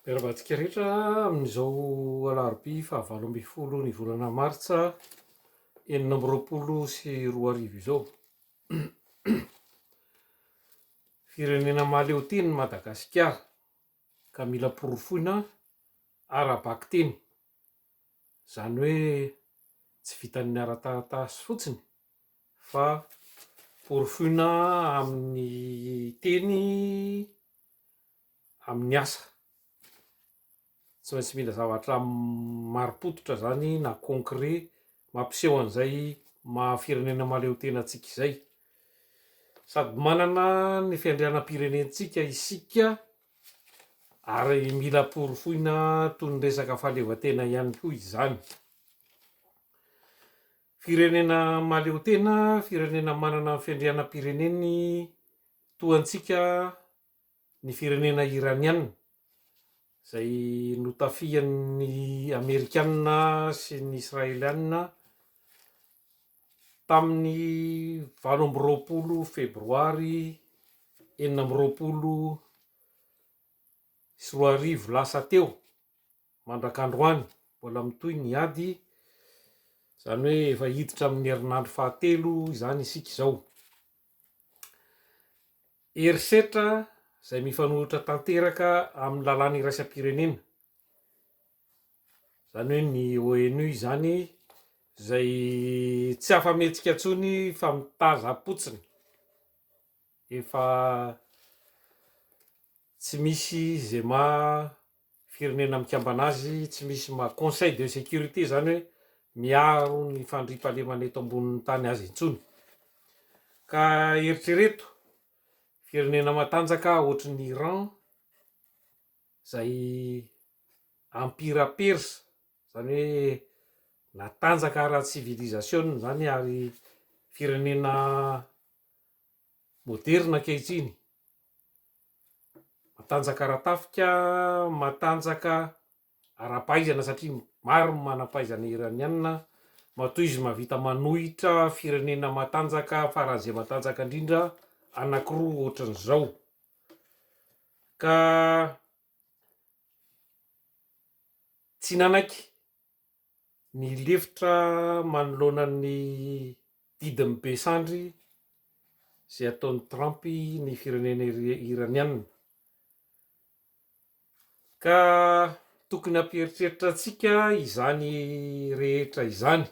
Miarahaba antsika rehetra amin'izao alarobia fahavalo ambin'ny folo ny volana martsa enina amby roapolo sy roa arivo izao. Firenena mahaleo tena i Madagasikara ka mila porofoina ara-bakiteny, izany hoe tsy vitan'ny ara-taratasy fotsiny fa porofoina amin'ny teny. amin'ny asa. Tsy maintsy mila zavatra marim-pototra izany na concret mampiseho an'izay maha firenena mahaleo tena antsika izay. Sady manana ny fiandrianam-pirenentsika isika ary mila porofoina toy ny resaka fahaleovantena ihany koa izany. Firenena mahaleo tena, firenena manana ny fiandrianam-pireneny toa antsika ny firenena Iraniana izay notafihan'ny Amerikana sy ny Israeliana tamin'ny valo amby roapolo Febroary enina amby roapolo sy roa arivo lasa teo. Mandrak'androany, mbola mitohy ny ady, izany hoe efa hiditra amin'ny herinandro fahatelo izany isika izao. Herisetra izay mifanohitra tanteraka amin'ny lalàna iraisam-pirenena, izany hoe ny ONU izany, izay tsy afa-mihetsika intsony fa mitazam-potsiny, efa tsy misy izay maha. Firenena mikambana azy tsy misy ma conseil de sécurité zany hoe miaro ny fandriampahalemana eto ambonin'ny tany azy intsony. Ka eritrereto, firenena matanjaka ohatry ny Iran zay empira persa, zany hoe natanjaka ara tsivilizasiona zany ary firenena moderina ankehitriny, Matanjaka ara-tafika, matanjaka ara-pahaizana satria maro ny manam-pahaizana Iraniana, matoa izy mahavita manohitra firenena matanjaka faran'ny izay matanjaka indrindra anankiroa ohatran'izao ka tsy nanaiky Ny lefitra manoloana ny didin'ny be sandry izay ataon'i Trump ny firenena Iraniana. Ka tokony hampieritreritra antsika izany rehetra izany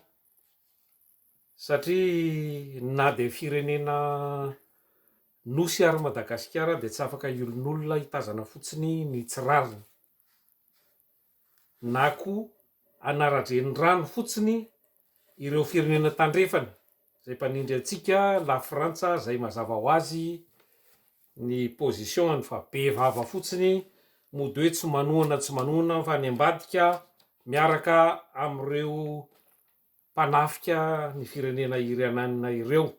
satria na dia firenena nosy ary Madagasikara dia tsy afaka hiolonolona hitazana fotsiny ny tsy rariny. na koa anaran-drenirano fotsiny ireo firenena tandrefana izay mpanindry antsika, la frantsa izay mazava ho azy ny position-ny fa be vava fotsiny mody hoe tsy manohana tsy manohana fa any ambadika miaraka amin'ireo mpanafika ny firenena iriananina ireo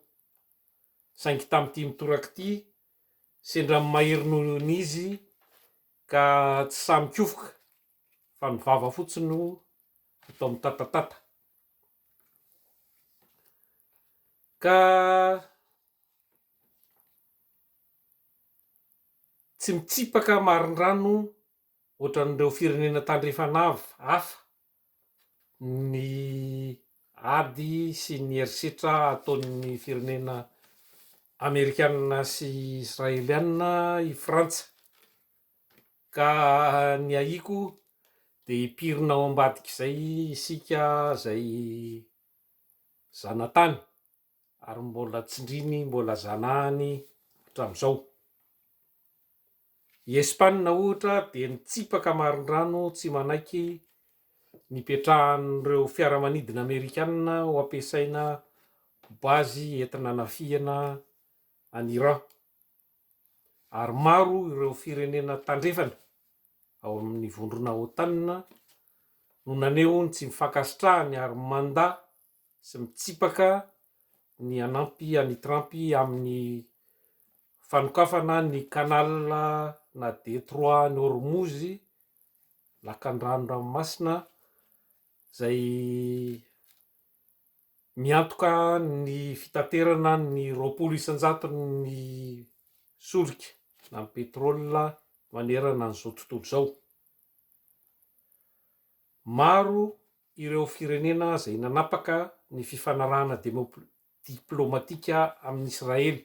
saingy tamin'ity mitoraka ity sendra mahery noho ny izy Ka tsy sahy mikofoka fa ny vava fotsiny no atao mitatatata. Ka tsy mitsipaka marindrano ohatran'ireo firenena tandrefana hafa ny ady sy ny herisetra ataon'ny firenena amerikanina sy israelianina i Frantsa, ka ny ahiako dia hipirina ao ambadik'izay isika izay zanatany, ary mbola tsindriny mbola zanahany hatramin'izao. I Espana ohatra dia nitsipaka marindrano tsy manaiky nipetrahan'ireo fiaramanidina amerikana ho ampiasaina ho bazy enti-nanafihana an'i Iran, ary maro ireo firenena tandrefana ao amin'ny vondrona Otan no naneho ny tsy fankasitrahany ary manda sy mitsipaka ny hanampy an'i Trump amin'ny fanokafana ny Canal na Détroit Hormuz, lakandrano ranomasina izay miantoka ny fitaterana ny roapolo isan-jaton'ny solika na ny pétrole manerana an'izao tontolo izao. Maro ireo firenena izay nanapaka ny fifanarahana diplomatika amin'i Israely.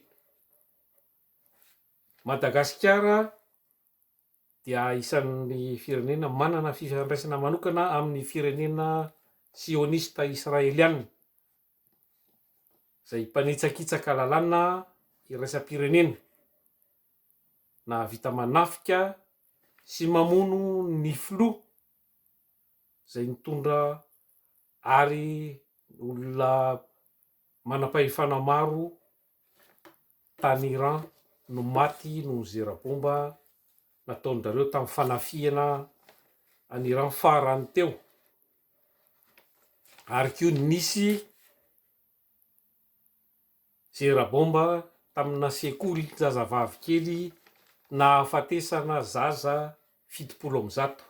Madagasikara dia isan'ny firenena manana fifandraisana manokana amin'ny firenena sionista israeliana, izay mpanitsakitsaka lalàna iraisam-pirenena. nahavita manafika sy mamono ny filoha izay nitondra ary olona manam-pahefana maro tany Iran no maty noho ny zera-bomba nataon-dry zareo tamin'ny fanafihana an'i Iran farany teo ary koa nisy Zerabomba tamina sekoly zazavavy kely nahafatesana zaza fitopolo amby zato.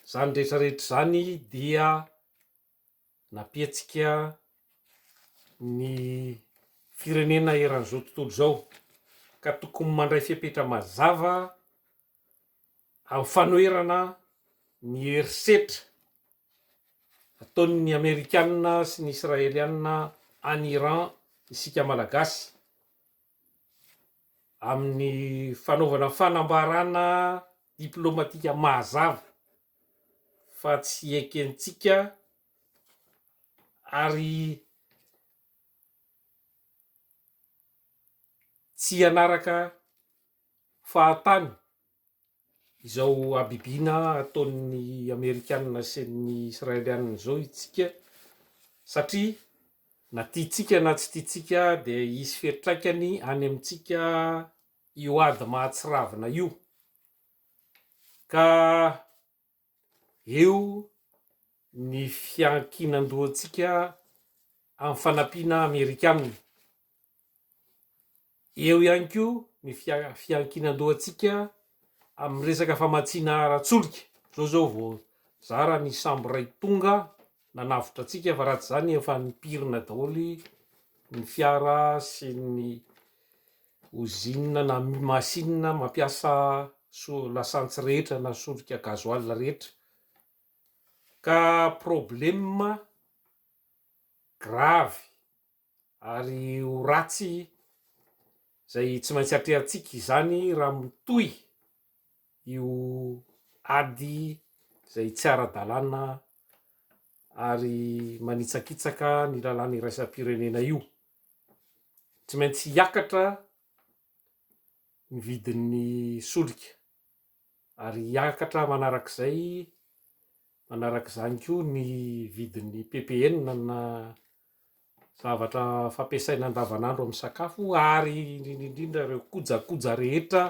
Izany rehetra rehetra izany dia nampihetsika ny firenena eran'izao tontolo izao ka tokony mandray fepetra mazava Amin'ny fanoherana ny herisetra ataon'ny Amerikana sy ny Israeliana any Iran isika Malagasy, amin'ny fanaovana fanambarana diplomatika mahazava fa tsy ekentsika ary tsy hanaraka fahatany izao habibiana ataon'ny amerikanina sy ny israelianina izao itsika satria na tiantsika na tsy tiantsika dia hisy fiantraikany any amintsika io ady mahatsiravina io ka Eo ny fiankinan-dohantsika amin'ny fanampiana Amerikana. Eo ihany koa ny fiankinan-dohantsika amin'ny resaka famatsiana ara-tsolika. Izao izao vao zara ny sambo iray tonga nanavotra antsika fa raha tsy izany efa nipirina daholo ny fiara sy ny Ozinina na masinina mampiasa lasantsy rehetra na solika gazoala rehetra ka problema gravy ary ho ratsy izay tsy maintsy atrehantsika izany raha mitohy io ady izay tsy ara-dalàna ary manitsakitsaka ny lalàna iraisam-pirenena io. tsy maintsy hiakatra ny vidin'ny solika ary hiakatra manarak'izay, manarak'izany koa ny vidin'ny PPN na zavatra fampiasaina andavan'andro amin'ny sakafo ary indrindra indrindra ireo kojakoja rehetra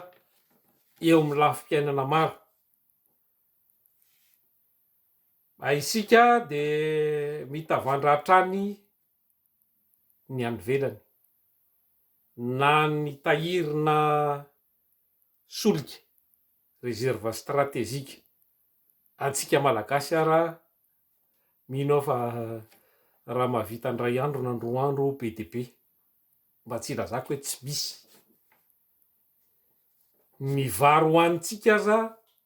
eo amin'ny lafim-piainana maro. Isika dia mitavandra hatrany ny any ivelany na ny tahirina solika, reserve strategique, antsika malagasy ara mino aho fa raha mahavita indray andro na indroa andro be dia be, mba tsy ilazako hoe tsy misy, ny vary hohanintsika aza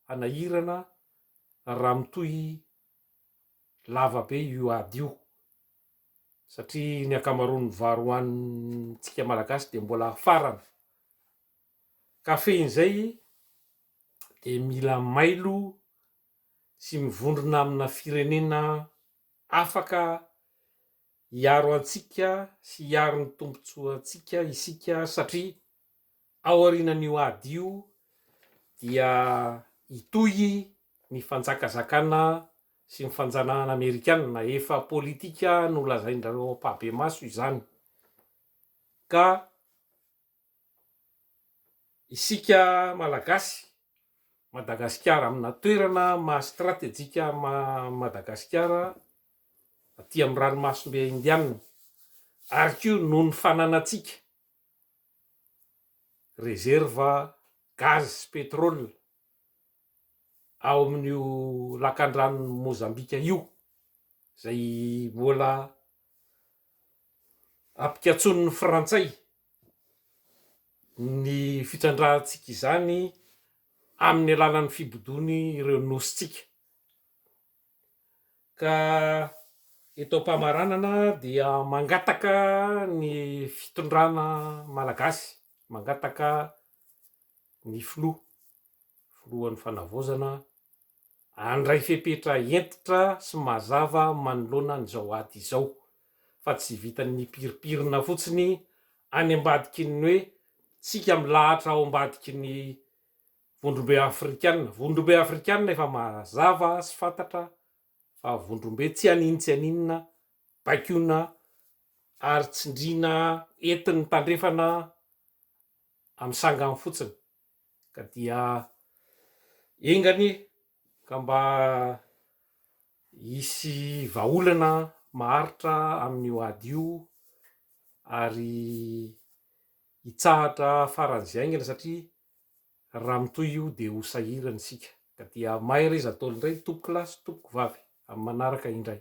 hanahirana raha mitohy lava be io ady io. satria ny ankamaroan'ny vary hohanintsika malagasy dia mbola hafarana, ka fehizay dia mila mailo sy mivondrona amina firenena afaka hiaro antsika sy hiaro ny tombontsoantsika isika satria Aorianan'io ady io dia hitohy ny fanjakazakana sy ny fanjanahana amerikanina, efa politika nolazain'ireo ampahibemaso izany, ka isika Malagasy, Madagasikara, amina toerana maha stratejika an'i Madagasikara aty amin'ny ranomasimbe indianina, ary koa noho ny fananantsika, rezerva gaz sy pétrole ao amin'io lakandranon'i Mozambika io izay mbola ampikatsonin'ny frantsay ny fitrandrahantsika izany amin'ny alalan'ny fibodoany ireo nosintsika. Ka eto am-pamaranana dia mangataka ny fitondrana malagasy, mangataka ny filoha, filohan'ny fanavaozana handray fepetra hentitra sy mazava manoloana an'izao ady izao fa tsy vitan'ny piripirina fotsiny any ambadiky ny hoe tsika milahatra ao ambadiky ny Vondrombe afrikana, vondrombe afrikana efa mazava sy fantatra fa vondrombe tsy hanin tsy haninona baikona ary tsindriana entin'ny tandrefana amin'ny sangany fotsiny ka dia enga anie ka mba hisy vahaolana maharitra amin'io ady io ary hitsahatra faran'izay aingana satria Raha mitohy io dia ho sahirana isika ka dia mahereza daholo indray tompokolahy sy tompokovavy amin'ny manaraka indray.